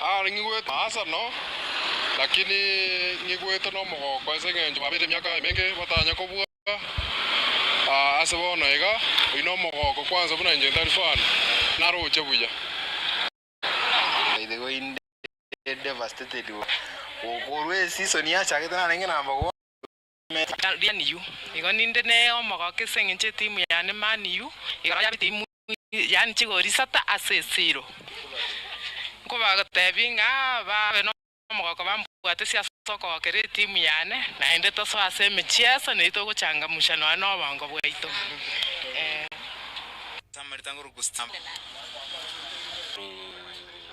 Aare ng'igwete asano, lakini ng'igwete nomogoko ase engencho babeire emiaka emenge batanya kobua. Ase bono iga, oino omogoko kwansa buna inche ntari fani, naroche buya. Naitiga inde devastated, gokorwa eseason yachakete narenge number one. Adrian yu, igo ninde neye omogoka ase engencho etimu yane Man U igoro ya bitimu yaani chigori isata ase esiro. Nkobagotebi ng'a babe nomogoka bambwate ase okogokera etimu yane naende tosoe ase emechieso neri togochangamusha nonya nobongo bwaito eeh.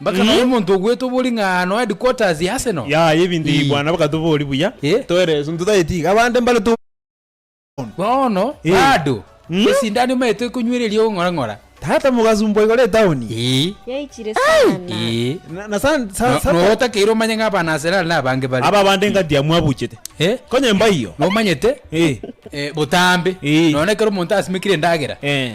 Mpaka nonya omonto ogwete obori ng'a ano headquarters ya Arsenal. Yaya ebinto ebi Ii. bwana mpaka tobori buya. Eh. Toereswe nto taye tiga abande mbare to. Bono Ii. bado Mm. esindano imaete ekonywera eria ogong'ora ng'ora. Tata mogasumbwa igoro etaoni. Ii. Yaichire sana. Ii. Na na sa sa No- sata. notakeire omanye ng'a abana Arsenal na abange bare. Aba abande engati ya mwabuchete. Eh. Konye mbaiyo. Nomanyete Ii. eh, botambe Ii. nonya ekero omonto asimekire endagera Eh.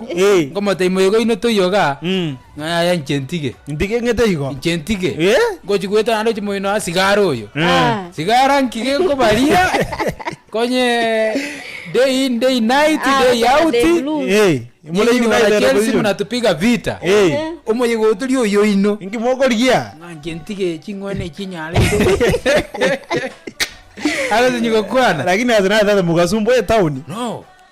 Eh. Ngomotebi moyega oino toiyoga ng'a yaya inche ntige. Ntige ng'ete igo. Inche ntige. Eh. Ngochi goeta naende ochi moino aa sigara oyo. Eh. Sigara nki gekobaria konye day in day night Ah, day gochora out. day blues. Eh. Muna Moraini wana baibera Chelsea boiyo. munatupiga vita. Eh. Omoyega oyo tori oyo oino. Inki mokorigia? Ng'a inche ntige ching'wana echi nyarete. Agotenya gokwana. Lakini ase natata mogasumbuo etown. No.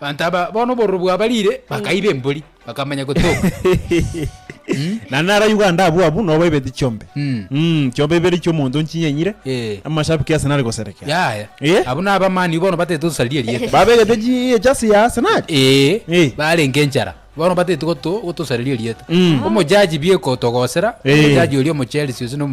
Banto aba bono obororo bwaba riire bakaiba embori bakamanya gotoka. Naende naro Uganda abwo abwo nobo baibeti chiombe. Mm. Mm, chiombe ibere chi'omonto nchinyanyire, Eh. amashabiki Arsenal goserekea. Yaya. Eh? Abwo naba Man U bono batete osaria erieta. Babegete chi ejasi ya Arsenal. Ee, Eh. barenge enchara. Bono batete goto gotosareria erieta. Mm. Omojaji biekotogosera, Eh. omojaji oria omochelsea ase no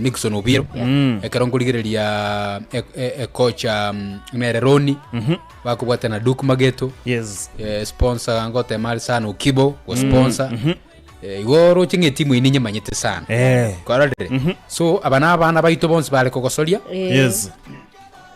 Nixon Obiro Mm. ekero nkorigereria e- e- ekocha mm, nere Roni Mhm. bakobwate na Duke Mageto Yes. eh, sponsor ngotema ari sana Okibo go sponsor Mhm. Eh, igo roche ng'a etimu ine nyemanyete sana Eh. korire so aba na abana baito bonsi bare kogosoria Yes.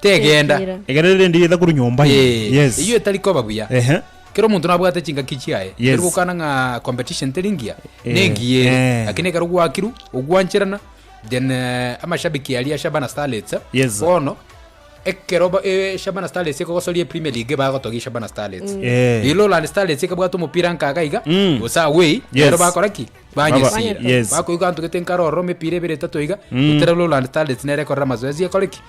tegenda. Tekira. Egere rire ndiye etakorwa nyomba ime. Ee, Yes. eyio etari koba buya. Ehe. Kera omonto nabwate chingaki chiaye, Yes. ekero gokana ng'a competition teri ngiya, Eh, nengiya ere. eh. Lakini ekero gwakiru, ogwancherana, then eh, amashabiki aria Shabana Starlets, Yes. bono, ekero ba- eh, Shabana Starlets ekogosoria ePremier League bagotogia Shabana Starlets. Eh. Eyi Lowland Starlets ekabwata omopira nkaga iga, Mm. gose away, Yes. rero bakora ki? Baba- Banyesira. Yes. Bakoigwa ntugete nkaro ororo emepira ebere etato iga, Mm. gotera Lowland Starlets nere ekorera amazoezi ekore ki?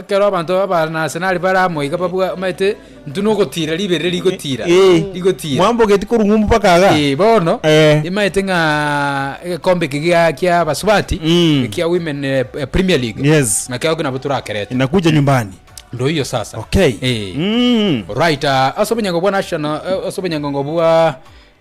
Ekero abanto b'Abanasenari bare amo iga babwamete intwe nogotiira riberera rigotiira, Eh, rigotiira. mwambogeti korwa ng'umbu mpaka aga? Eh, bono Eh. imaete ng'a egekombe eke gia- kia abasubati Mm. ekia women eh, eh, premier league Yes. ng'a kiago nabo torakerete Inakuja nyumbani. ndo hiyo sasa Okay. Eh. Mm. right ah, ase obonyango bwa national eh, ase obonyango bwa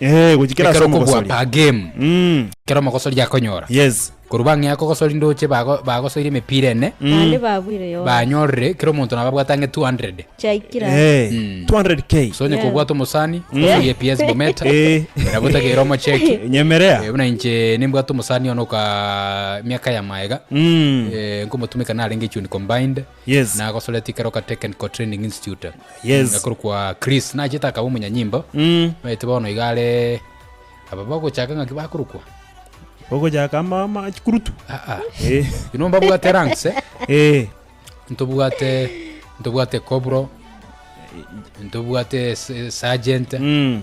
Eeh, gochikera ase Ekero okobua omogosoria. per game, Mm. ekero omogosori akonyora. Yes. Korwa bang'e akogosori ndoche bago- bagosoire emepira ene, Naende babuire yonsi. banyorire kera omonto nabo abwate ang'e 200. Chiaikire ase. Eh, Mm. 200k. So onye Yeah. kobwate omosani, okosoria EPS Bometa, Eh. nabo otagere omocheki. Nyemerea. Eh, buna inche nimbwate omosani one oka miaka ya maega Mm. eh, nkomotumeka narenge echioni combined Yes. Nagosoretie ekero Kateken Core Training Institute. Yes. Ekorokwa Chris. Nachete akaba omonyanyimbo. Mm. Maete bono iga are aba bagochaka ng'aki bakorokwa. Ogochaka ama ama chikurutu. Aa. Eh. Inwe mbabwate ranks eh. Eh. Ntobwate ntobwate Cobro. Ntobwate se- Sergeant. Mm.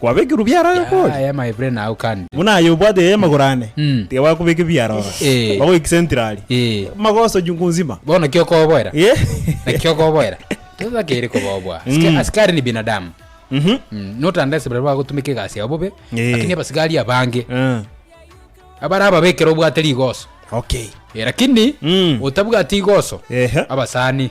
Kwabekirwe biara aye okori? Yaya my brain now can be. Buna aye obwate yaya magoro ane, Mm. tiga bakobeke biara ororo. Eh. Bagoiki centrali. Eh. Magoso chungu nzima. Bono ki okoboera? Eh. Naki okoboera? Totakeire koboboa. Aska- Mm. Askari ni binadamu. Mhm. Mm, not unless baria bagotumeka egasi yabo bobe, Eh. lakini abasigari abange, Eh. abare ababekere obwate rigoso. Okay. Eh, lakini Mm. otabwati igoso, Ehe. abasani,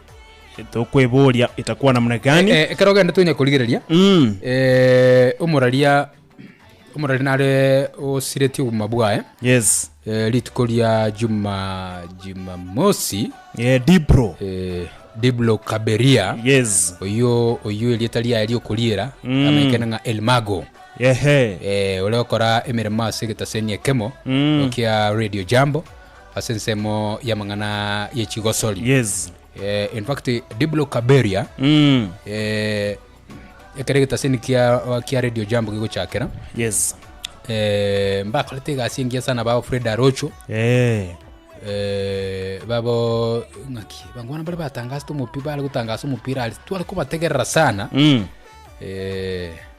Tokweboria itakuwa namna gani? Eh, eh, ekero ogende tonya korigereria Mm. eh, omoraria omoraria nare osiretie obogima bwaye Yes. eh, rituko ria juma jumamosi Eh, Dipro. eh, diblo kaberia Yes. oyo oyo erieta riaye riokoriera Mm. amenyekana ng'a elmago Ehe. eh, ore okora emeremo ase egetaseni ekemo Mm. kia radio jambo Ase ensemo y'amang'ana ye chigosori. Yes. Eh, in fact, Diblo Kaberia, Mm. eh, ekero egetaseni kia, kia Radio Jambo gigochakera, Yes. eh, mbakorete egasi engiya sana bao Fred Arocho, Eh. eh, babo ng'aki, bangwana bari batangasete omopira, bari gotangasa omopira, ari tware kobategerera sana. Mm. Eh,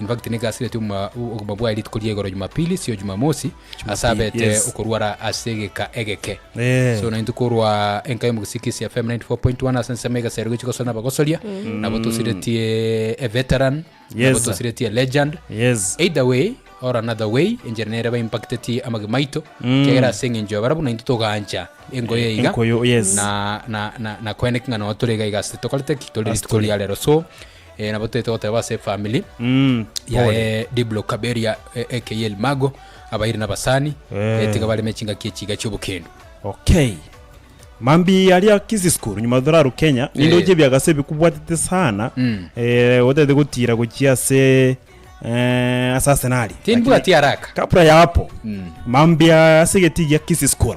In fact, nigo asireti oboma obogima bwaye rituko ria igoro Jumapili, sio Jumamosi, ase abete yes. okorwara ase egeka egeke. Eh. So naintu korwa enka y'omogisikisi FM 94.1 ase ensemo egasero gochia gosora nabagosoria, nabo tosiretie a veteran, nabo Yes. tosiretie a legend. Yes. Either way or another way, enchera nere ba impactetie amagima aito, kiagera ase eng'encho ya barabwo nainto togaancha engoyo Eh, iga. enkoyo, yes. Na na na na koeneka ng'a nao tore iga iga ase tokorete ki tore Ase rituko tore. ria rero. So eh, nabo toete goteba ase efamili Mm, ya pole. eh, Diblo Kaberia eh, aka Elmago abairi nabasani Eh. eh, tiga bareme chingaki echiga chiobokendu okay mambi aria kisi school nyuma thuraru kenya ninde Eh. ochebia gase bikubwatete sana Mm. eh, otete gotira gochia ase eh, ase arsenali timbwati araka kapra yapo Mm. mambi ase geti gia kisi school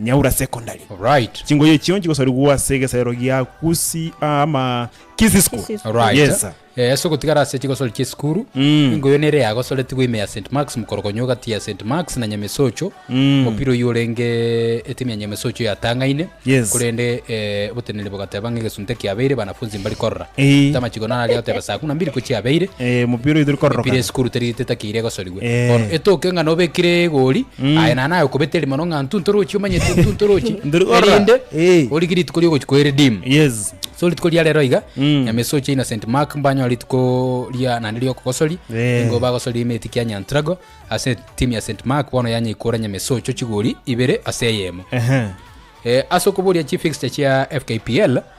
Nyaura Secondary. Alright. Chingoyi echio nchigosarigwa ase egesaero gia Gusii ah, ama Kisii School. Kisii School. Alright. Yes, sir. Eh, ase ogotigara ase chigosori chia esukuru, Mm. engoyi eye nere yagosoretigwe ime ya St. Marks mokorogonyo gati ya St. Marks na Nyamesocho. Mm. Omopira oyio orenge etimu ya Nyamesocho yatang'aine. Yes. Korende eh, oboteneneri bogateba ng'a egesunte kiabeire banafunzi mbari korora. Eh. Tamachigo nararia goteba saa kumi na mbiri ko chiabeire. Eh, omopira oyo tori kororokana. Emipira ya esukuru teri tetakeire egosorigwa. Gwe, Bono Ee. etoke ng'a nobekire egori Mm. aye naye naye okobeta erimo no ng'a ntu ntorochi omanyete ntu ntorochi Ndiri gorora. erinde Ee. orige rituko riogochi kwa eredeem Yes. so rituko ria rero iga Mm. nyama esoche ina st mark mbanyore rituko ria naende riokogosoria Ee. ingo bagosoria emeti kia nyantrago ase timu ya st mark bono yanyaikora nyama esocho chigori ibere ase eyemo Ehe. Eh, ase okoboria chifixture chia fkpl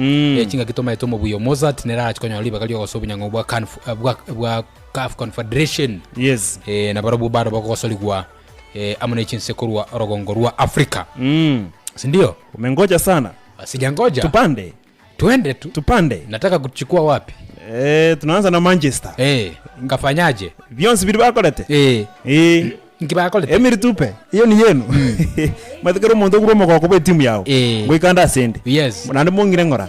Ee, chingaki tomaete omobuya o Mozart nere arache konyora ribaga ri'ogosoa obunyang'au bwa Canf- eh, bwa- bwa CAF Confederation. Yes. Eh, na barobwo bande bagogosorigwa eh, amo ne chinse korwa orogongo rwa Africa. Mm. Sindio? Umengoja sana. Sijangoja. Tupande. Twende tu. Tupande. Nataka kuchukua wapi? Eh, tunaanza na Manchester. Eh, ngafanyaje? Bionsi biri bakorete. Eh. Eh. Inki bakorete? Emiri tupe, eyio niyo eno. Omanyete kera omonto okure omogoko bwe timu yao, Eh. ngoika ande ase ende. Yes. Naende mong'ire ng'ora.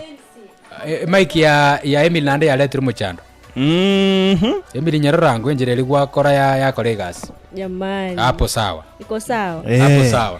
Eh, Mike ya ya Emily naende yaretirwe mochando. Mhm. Emily nyerorango enchera eria gwakora ya yakora egasi. Jamani. Hapo sawa. Iko sawa. Eh. Hapo sawa.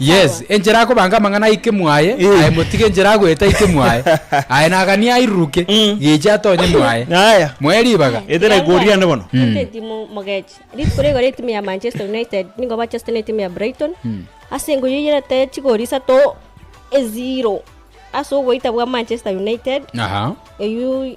Yes, enchera akobanga amang'ana aike mwaye, aye motige enchera agoeta aike mwaye, aye naganie airuruke, geche atonye mwaye. Aya. Moe ribaga. Ete na egori yane bono. Ente etimu mogechi. Rituko rigoro etimu ya Manchester United nigo bachesete ne etimu ya Brighton ase engoyi enyerete chigori isato ezero ase ogoita bwa Manchester United Aha. eyio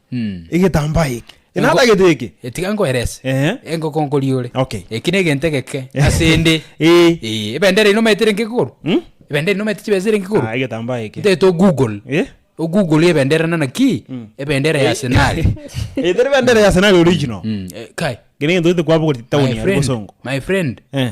egetambaa eke, enatagete eke. Tiga nkoerese. Ehe. Engoko nkori ore. Okay. Eki negento egeke ase ende. Ee. Ee, ebendera ino omanyete ere nkegoro? Hmm? Ebendera ino omanyete chibesa ere nkegoro? Ah, egetambaa eke. Ntete ogoogle. Eh? Ogoogle ebendera nana ki? Ebendera ya Arsenali. Eh, teri bendera ya Arsenali original. Mm, eh, kai. Gene gento gete kwabogoreti town My ya friend, Bosongo. my friend, Eh.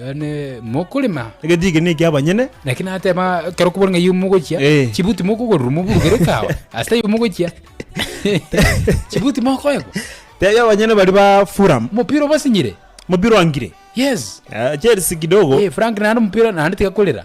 Yaani mokorema Egeti eke ne ekiabanyene. naki nateba kero kobora ng'a iyo mogochia Eh. chibuti mokogorerwa moburugere kawa ase taiyo mogochia chibuti mokoegwa Tebia abanyene baria ba Fulham. omopira obasinyire Mopira oangire. yes Chelsea kidogo. Eh, frank naende omopira naende tiga korera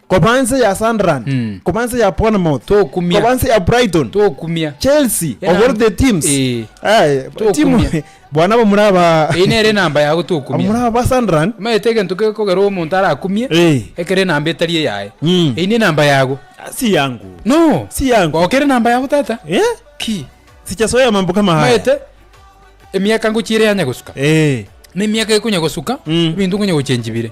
Koba nse ya Sunderland, Mm. koba nse ya Bournemouth, Tokumia. koba nse ya Brighton, tokumia Chelsea, Ena- over the teams. Eh. Eh, Tokumia. timu bwana abo muri aba eyi nere enamba yago abo muri tokumia aba Sunderland. omanyete egento gekogera omonto arakumie Eh. ekero enamba etari eyaye Mm. eyi nenamba yago Ah, Si yangu. no Si yangu. gokera enamba yago tata Eh? ki Sichasoya mambo kama haya. omanyete emiaka ngochire yanya gosuka Eh. na emiaka ekonya gosuka Mm. ebinto nkonya gochenjibire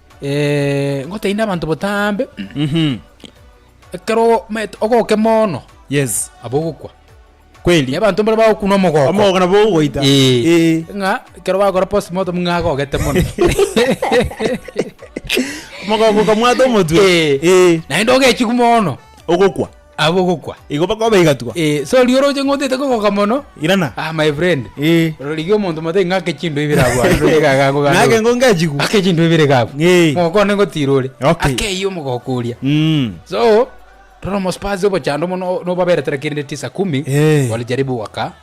ngotebi na abanto botambe, ekero omanyete ogoke mono, Yes. nabo ogokwa. Kweli. Abanto mbare bagokunwa omogoko. Omogoko nabo ogoita. Eeh. Eeh. Ng'a ekero bakora postmortem ng'a agogete mono. Omogoko okamwata omotwe. Eeh. Eeh. Naende ogechigwa mono. Ogokwa. Abwo gokwa. Igo bakoba baigatwa. Eh, so riu oroche ng'a otaete kogoka mono. Irana. Ah, my friend. Eh. Rorigia omonto mote ng'ake chinto ibere abwo are, rorigia iga agakwa gande. Ng'ake ngo ngechigwa. Ake chinto ibere iga abwo. Eh. Mogoko one ngotira ore. Okay. Ake eyio omogoko oria. Mm. So, rora omospazi obochando mono, nobaberetere kende tisa kumi. Eh. Walijaribu waka.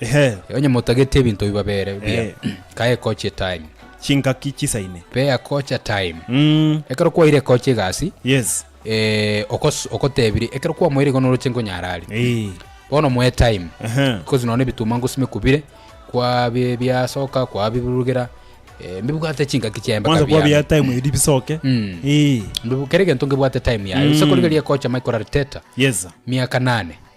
Ehe. Onye motageti ebinto ebi babere bia, Ehe. ka ekochi etime. Chingaki chisaine. Be ekocha time. Mm. Ekero kwaire ekocha egasi, Yes. eh, okos- okotebirie, ekero kwamoire igo noroche nkonyara aria. Eeh. Bono moe time. Ehe. Because nonya ebituma ngosi mikubire, kwa bi- biasoka, kwa bibirugera, eh, mbibwate chingaki chia embaka Mwanzo kwa bia biane. time eri bisoke. Mm. Eeh. Mbibu- kera egento ngebwate time yaye. Gose Mm. korigeria ekocha mai korara teta, Yes. miaka nane.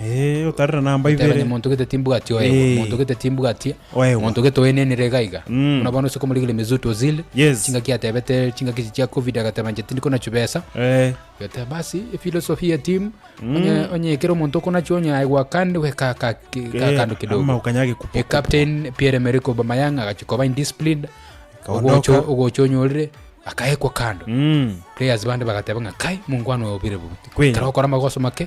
Ee, otarera namba Goteba ibere. onye monto gete timbwati oegwa, Eh. monto gete timbwati, Oegwa. monto gete oenenire iga iga. Mm. Buna bono ase komorigereria Mesut Ozil, Yes. chingaki atebete chingaki echi chia Covid agateba inche tindi kona chibesa. Eh, Agateba basi efilosofi ya timu onye onye ekero omonto okonacho onye aegwa kande we ka ka ki- ka eh, kando kidogo. ama okanya agekupa- E captain Pierre Emerick Aubameyang agachi koba indisciplined. Akaondoka. Ogocho ogocho onyorire akaekwa kando. Mm. Players bande bagateba ng'a kai mongwana oyo obire bubi. Kweli. Kero okora amagoso make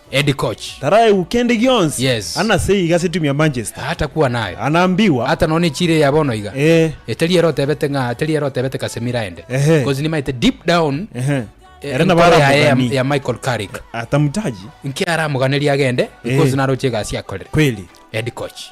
Eddy Koch. Taraegwa kende gionsi. Yes. Ana sei iga ase timu ya Manchester. Aa takua naye. Ana mbigwa. Ata nonya ne chire ya bono iga. Eeh. Etari ere otebete ng'a tari ere otebete Casemiro aende. Ehe. Cause nimaete deep down. Ehe. Ere nabo ara mugani. Enkoro yaye ya Michael Carrick. Atamutaji. Nki ara moganeria agende. Eeh. Because naroche egasi akorere. Kweli. Eddy Koch.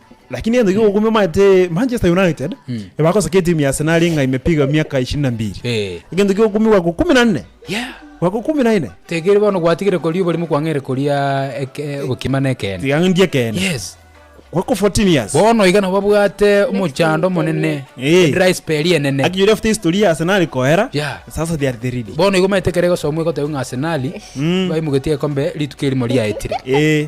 Lakini egento kia ogokumia omanyete Manchester United ebagosaka etimu ya Arsenal ng'a imepiga miaka ishirini na mbiri. Eh. Egento kia ogokumia gwako ikumi na nne. Yeah. Gwako ikumi na ine. Tekeri bono gwatigire koria oborimo kwang'eire koria eke- obokima na ekeene. Tiga ng'endie ekeene. Yes. Gwako 14 years. Bono iga nabo babwate omochando omonene. Eh. Edry spell enene. Aki yori after history ya Arsenal koera. Yeah. Sasa they are the leading. Bono iga omanyete ekero egosomwa egoteba ng'a Arsenal, baimogetie egekombe rituko erimo riaetire. Eh.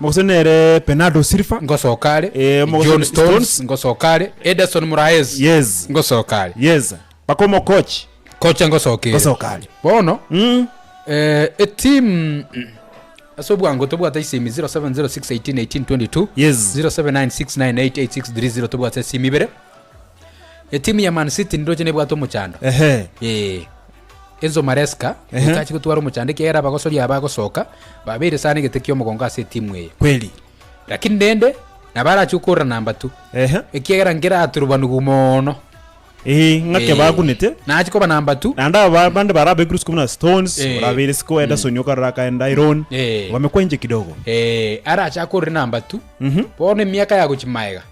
Omogusii nere Bernardo Silva. Ngosoka are. Eh, omogosii John ni Stones, Stones. ngosoka are. Ederson Moraes, Yes. ngosoka are. Yes. Mpaka omokochi. Kocha ngosoka ere. Ngosoka are. Bono, Mm. eh, eteam mm, ase obwango tobwate esimi 0706181822 Yes. 0796988630 tobwate esimi ibere Etimu ya Man City nindoche nebwate omochando. Ehe. Eh, Enzo Maresca Ehe. etache gotwara omochando ekiagera abagosori aba bagosoka babeire sana egete ki'omogongo ase etimu eye. Kweli. Lakini rende nabo arache okorora namba tu Ehe. ekiagera nkere aturubanugu mono. Eh, ng'ake Eh, bagunete. Nache koba namba tu. Naende aba bande bare abekuru sikobuna na Stones, Eh. orabeire siko Ederson okarora akaenda Iron. Eh. Wamekwa inche kidogo. Eh, arache akorore namba tu. Mhm. Bono emiaka yagochi maega.